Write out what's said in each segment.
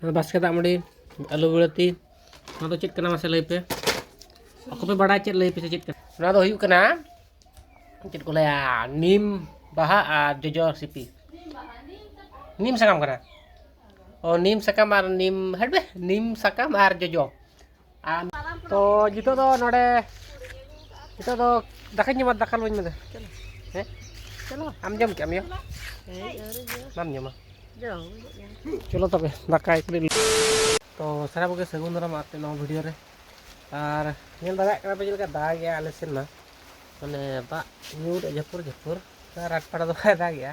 ᱱᱚᱣᱟ ᱵᱟᱥᱠᱮ ᱫᱟᱜ ᱢᱟᱹᱰᱤ ᱟᱹᱞᱩ ᱵᱤᱞᱟᱹᱛᱤ ᱱᱚᱣᱟ ᱫᱚ ᱪᱮᱫ ᱠᱟᱱᱟ ᱢᱟᱥᱮ ᱞᱟᱹᱭ ᱯᱮ ᱚᱠᱚᱭ ᱯᱮ ᱵᱟᱲᱟᱭ ᱪᱮᱫ ᱞᱟᱹᱭ ᱯᱮ ᱪᱮᱫ ᱠᱟᱱᱟ ᱱᱚᱣᱟ ᱫᱚ ᱦᱩᱭᱩᱜ ᱠᱟᱱᱟ ᱪᱮᱫ ᱠᱚ ᱞᱟᱹᱭᱟ ᱱᱤᱢ ᱵᱟᱦᱟ ᱟᱨ ᱡᱚᱡᱚ ᱥᱤᱯᱤ ᱱᱤᱢ ᱥᱟᱠᱟᱢ ᱠᱟᱱᱟ ᱚ ᱱᱤᱢ ᱥᱟᱠᱟᱢ ᱟᱨ ᱱᱤᱢ ᱦᱟᱹᱴ ᱵᱮ ᱱᱤᱢ ᱥᱟᱠᱟᱢ ᱟᱨ ᱡᱚᱡᱚ ᱟᱨ ᱛᱚ ᱱᱤᱛᱚᱜ ᱫᱚ ᱱᱚᱰᱮ ᱱᱤᱛᱚᱜ ᱫᱚ ᱫᱟᱠᱟᱧ ᱡᱚᱢᱟ ᱫᱟᱠᱟ ᱞᱚᱧ ᱢᱮᱱᱫᱟ ᱦᱮᱸ ᱟᱢ ᱡᱚᱢ ᱠᱮᱜ ᱟᱢ ᱭᱟ ᱵᱟᱢ ᱡᱚᱢᱟ ᱪᱚᱞᱚ ᱛᱚᱵᱮ ᱫᱟᱠᱟ ᱮᱠᱞᱤ ᱛᱚ ᱥᱟᱨᱟ ᱠᱚᱜᱮ ᱥᱟᱹᱜᱩᱱ ᱫᱟᱨᱟᱢ ᱟᱯᱮ ᱱᱚᱣᱟ ᱵᱷᱤᱰᱤᱭᱳ ᱨᱮ ᱟᱨ ᱧᱮᱞ ᱫᱟᱲᱮᱭᱟᱜ ᱠᱟᱱᱟ ᱯᱮ ᱪᱮᱫ ᱞᱮᱠᱟ ᱫᱟᱜ ᱜᱮᱭᱟ ᱟᱞᱮ ᱥᱮᱱ ᱢᱟ ᱢᱟᱱᱮ ᱫᱟᱜ ᱧᱩᱨ ᱡᱟᱹᱯᱩᱨ ᱡᱟᱹᱯᱩᱨ ᱨᱟᱴᱯᱟᱲᱟ ᱫᱚ ᱵᱟᱭ ᱫᱟᱜᱮᱜᱼᱟ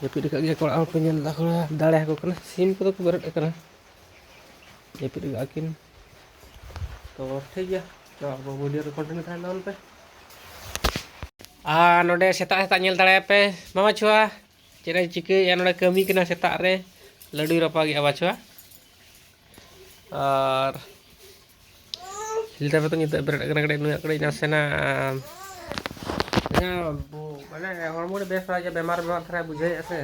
ᱡᱟᱹᱯᱤᱫ ᱟᱠᱟᱫ ᱜᱮᱭᱟ ᱠᱚ ᱚᱲᱟᱜ ᱦᱚᱲ ᱠᱚ ᱧᱮᱞ ᱮᱫᱟ ᱠᱚ ᱫᱟᱲᱮ ᱟᱠᱚ ᱠᱟᱱᱟ ᱥᱤᱢ ᱠᱚᱫᱚ ᱠᱚ ᱵᱮᱨᱮᱫ ᱟᱠᱟᱱᱟ ᱡᱟᱹᱯᱤᱫ ᱟᱠᱟᱫ ᱠᱤᱱ ᱛᱚ ᱴᱷᱤᱠ ᱜᱮᱭᱟ ᱛᱚ ᱟᱵᱚ ᱵᱷᱤᱰᱤᱭᱳ ᱨᱮ ᱠᱚᱱᱴᱤᱱᱤᱭᱩ ᱛᱟᱦᱮᱱ ᱛᱟᱵᱚᱱ ᱯᱮ ᱟᱨ ᱱᱚᱰᱮ ᱥᱮᱛᱟᱜ ᱥᱮᱛᱟᱜ ᱧᱮᱞ ᱫᱟᱲᱮᱭᱟᱯᱮ ᱢᱟᱢᱟ ᱪᱷᱩᱣᱟ ᱪᱮᱫ ᱮ ᱪᱤᱠᱟᱹᱭᱮᱫᱼᱟ ᱱᱚᱰᱮ ᱠᱟᱹᱢᱤ ᱠᱟᱱᱟ ᱥᱮᱛᱟᱜ ᱨᱮ ᱞᱟᱹᱰᱩᱭ ᱨᱟᱯᱟᱜᱮᱫᱼᱟ ᱵᱟᱪᱷᱩᱣᱟ ᱟᱨ ᱞᱤᱴᱟᱨ ᱨᱮᱫᱚ ᱧᱤᱫᱟᱹ ᱵᱮᱨᱮᱫ ᱠᱟᱱᱟ ᱠᱟᱹᱴᱤᱡ ᱱᱩᱭᱟᱜ ᱠᱟᱹᱴᱤᱡ ᱱᱟᱥᱮᱱᱟᱜ ᱢᱟᱱᱮ ᱦᱚᱲᱢᱚ ᱨᱮ ᱵᱮᱥ ᱵᱟᱲᱟ ᱜᱮᱭᱟ ᱵᱮᱢᱟᱨ ᱵᱮᱢᱟᱨ ᱫᱷᱟᱨᱟᱭ ᱵᱩᱡᱷᱟᱹᱣᱮᱫᱼᱟ ᱥᱮ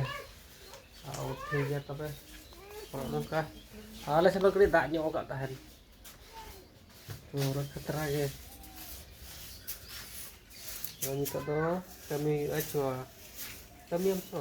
ᱟᱨ ᱴᱷᱤᱠ ᱜᱮᱭᱟ ᱛᱚᱵᱮ ᱱᱚᱝᱠᱟ ᱟᱞᱮ ᱥᱮᱫ ᱫᱚ ᱠᱟᱹᱴᱤᱡ ᱫᱟᱜ ᱧᱚᱜ ᱟᱠᱟᱫ ᱛᱟᱦᱮᱱ ᱯᱩᱨᱟᱹ ᱠᱷᱟᱛᱨᱟ ᱜᱮ ᱱᱤᱛᱚᱜ ᱫᱚ ᱠᱟᱹᱢᱤ ᱦᱩᱭᱩᱜᱼᱟ ᱪᱚ ᱠᱟᱹᱢᱤᱭᱟᱢ ᱛᱚ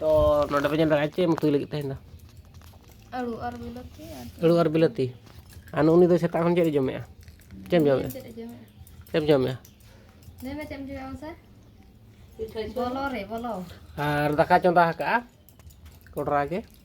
ᱛᱚ ᱱᱚᱰᱮ ᱯᱮ ᱧᱮᱞ ᱫᱟᱲᱮᱭᱟᱜᱼᱟ ᱪᱮᱫ ᱮᱢ ᱩᱛᱩᱭ ᱞᱟᱹᱜᱤᱫ ᱛᱟᱦᱮᱱ ᱫᱚ ᱟᱹᱲᱩ ᱟᱨ ᱵᱤᱞᱟᱹᱛᱤ ᱟᱹᱲᱩ ᱟᱨ ᱵᱤᱞᱟᱹᱛᱤ ᱟᱨ ᱩᱱᱤ ᱫᱚ ᱥᱮᱛᱟᱜ ᱠᱷᱚᱱ ᱪᱮᱫ ᱮ ᱡᱚᱢᱮᱜᱼᱟ ᱪᱮᱫ ᱮᱢ ᱡᱚᱢᱮᱜᱼᱟ ᱪᱮᱫ ᱮ ᱡᱚᱢᱮᱜᱼᱟ ᱪᱮᱫ ᱮᱢ ᱡᱚᱢᱮᱜᱼᱟ ᱞᱟᱹᱭ ᱢᱮ ᱪᱮᱫ ᱮᱢ ᱡᱚᱢᱮᱜᱼᱟ ᱢᱟᱥᱮ ᱵᱚᱞᱚ ᱨᱮ ᱵᱚᱞᱚ ᱟᱨ ᱫᱟᱠᱟ ᱪᱚᱸᱫᱟ ᱟᱠᱟᱜᱼᱟ ᱠᱚᱰᱨᱟ ᱜᱮ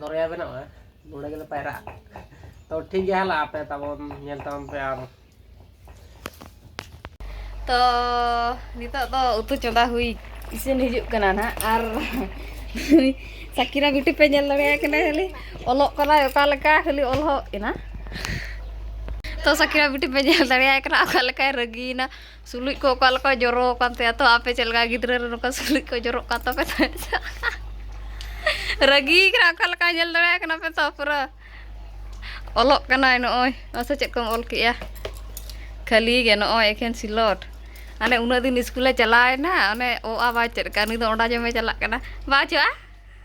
ᱫᱚᱨᱭᱟ ᱵᱮᱱᱟᱜᱼᱟ ᱱᱚᱸᱰᱮ ᱜᱮᱞᱮ ᱯᱟᱭᱨᱟᱜᱼᱟ ᱛᱚ ᱴᱷᱤᱠ ᱜᱮᱭᱟ ᱦᱟᱞᱟ ᱟᱯᱮ ᱛᱟᱵᱚᱱ ᱧᱮᱞ ᱛᱟᱵᱚᱱ ᱯᱮ ᱟᱨ ᱛᱚ ᱱᱤᱛᱚᱜ ᱫᱚ ᱩᱛᱩ ᱪᱚᱸᱫᱟ ᱦᱩᱭ ᱤᱥᱤᱱ ᱦᱤᱡᱩᱜ ᱠᱟᱱᱟ ᱱᱟᱦᱟᱜ ᱟᱨ ᱥᱟᱠᱤᱨᱟ ᱵᱤᱴᱤ ᱯᱮ ᱧᱮᱞ ᱫᱟᱲᱮᱭᱟᱭ ᱠᱟᱱᱟ ᱠᱷᱟᱹᱞᱤ ᱚᱞᱚᱜ ᱠᱟᱱᱟᱭ ᱚᱠᱟ ᱞᱮᱠᱟ ᱠᱷᱟᱹᱞᱤ ᱚᱞᱚᱜ ᱮᱱᱟ ᱛᱚ ᱥᱟᱠᱤᱨᱟ ᱵᱤᱴᱤ ᱯᱮ ᱧᱮᱞ ᱫᱟᱲᱮᱭᱟᱭ ᱠᱟᱱᱟ ᱚᱠᱟ ᱞᱮᱠᱟᱭ ᱨᱟᱹᱜᱤᱭᱮᱱᱟ ᱥᱩᱞᱩᱡ ᱠᱚ ᱚᱠᱟ ᱞᱮᱠᱟ ᱡᱚᱨᱚ ᱟᱠᱟᱱ ᱛᱟᱭᱟ ᱛᱚ ᱟᱯᱮ ᱪᱮᱫ ᱞᱮᱠᱟ ᱜᱤᱫᱽᱨᱟᱹ ᱨᱮ ᱱᱚᱝᱠᱟ ᱥᱩᱞᱩᱡ ᱠᱚ ᱡᱚᱨᱚᱜ ᱠᱟᱱ ᱛᱟᱯᱮ ᱛᱟᱦᱮᱸᱫ ᱨᱟᱹᱜᱤ ᱠᱟᱱᱟ ᱚᱠᱟ ᱞᱮᱠᱟ ᱧᱮᱞ ᱫᱟᱲᱮᱭᱟᱜ ᱠᱟᱱᱟ ᱯᱮ ᱛᱚ ᱯᱩᱨᱟᱹ ᱚᱞᱚᱜ ᱠᱟᱱᱟᱭ ᱱᱚᱜᱼᱚᱭ ᱢᱟᱥᱮ ᱪᱮᱫ ᱠᱚᱢ ᱚᱞ ᱠᱮᱜᱼᱟ ᱠᱷᱟᱹᱞᱤ ᱜᱮ ᱱᱚᱜᱼᱚᱭ ᱮᱠᱷᱮᱱ ᱥᱤᱞᱚᱴ ᱟᱱᱮ ᱩᱱᱟᱹᱜ ᱫᱤᱱ ᱥᱠᱩᱞᱮ ᱪᱟᱞᱟᱣᱮᱱᱟ ᱚᱱᱮ ᱚ ᱟ ᱵᱟᱭ ᱪᱮᱫ ᱠᱟᱜᱼᱟ ᱱᱩᱭ ᱫᱚ ᱚᱸᱰᱟ ᱡᱚᱢᱮ ᱪᱟᱞᱟᱜ ᱠᱟᱱᱟ ᱵᱟᱝ ᱪᱚ ᱟ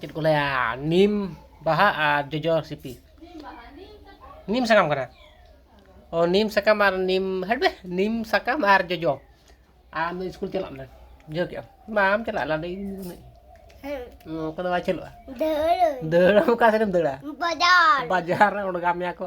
ᱪᱮᱫ ᱠᱚ ᱞᱟᱹᱭᱟ ᱱᱤᱢ ᱵᱟᱦᱟ ᱟᱨ ᱡᱚᱡᱚ ᱥᱤᱯᱤ ᱱᱤᱢ ᱥᱟᱠᱟᱢ ᱠᱟᱱᱟ ᱚ ᱱᱤᱢ ᱥᱟᱠᱟᱢ ᱟᱨ ᱱᱤᱢ ᱦᱟᱹᱴᱵᱮ ᱱᱤᱢ ᱥᱟᱠᱟᱢ ᱟᱨ ᱡᱚᱡᱚ ᱟᱢ ᱫᱚ ᱥᱠᱩᱞ ᱪᱟᱞᱟᱜ ᱢᱮ ᱵᱩᱡᱷᱟᱹᱣ ᱠᱮᱜ ᱟᱢ ᱵᱟᱢ ᱪᱟᱞᱟᱜ ᱞᱟᱰᱮ ᱚᱱᱠᱟ ᱫᱚ ᱵᱟᱭ ᱪᱟᱹᱞᱩᱜᱼᱟ ᱫᱟᱹᱲ ᱫᱟᱹᱲ ᱚᱠᱟ ᱥᱮᱫ ᱮᱢ ᱫᱟᱹᱲᱟ ᱵᱟᱡᱟᱨ ᱵᱟᱡᱟᱨ ᱨᱮ ᱚᱬᱜᱟ ᱢᱮᱭᱟ ᱠᱚ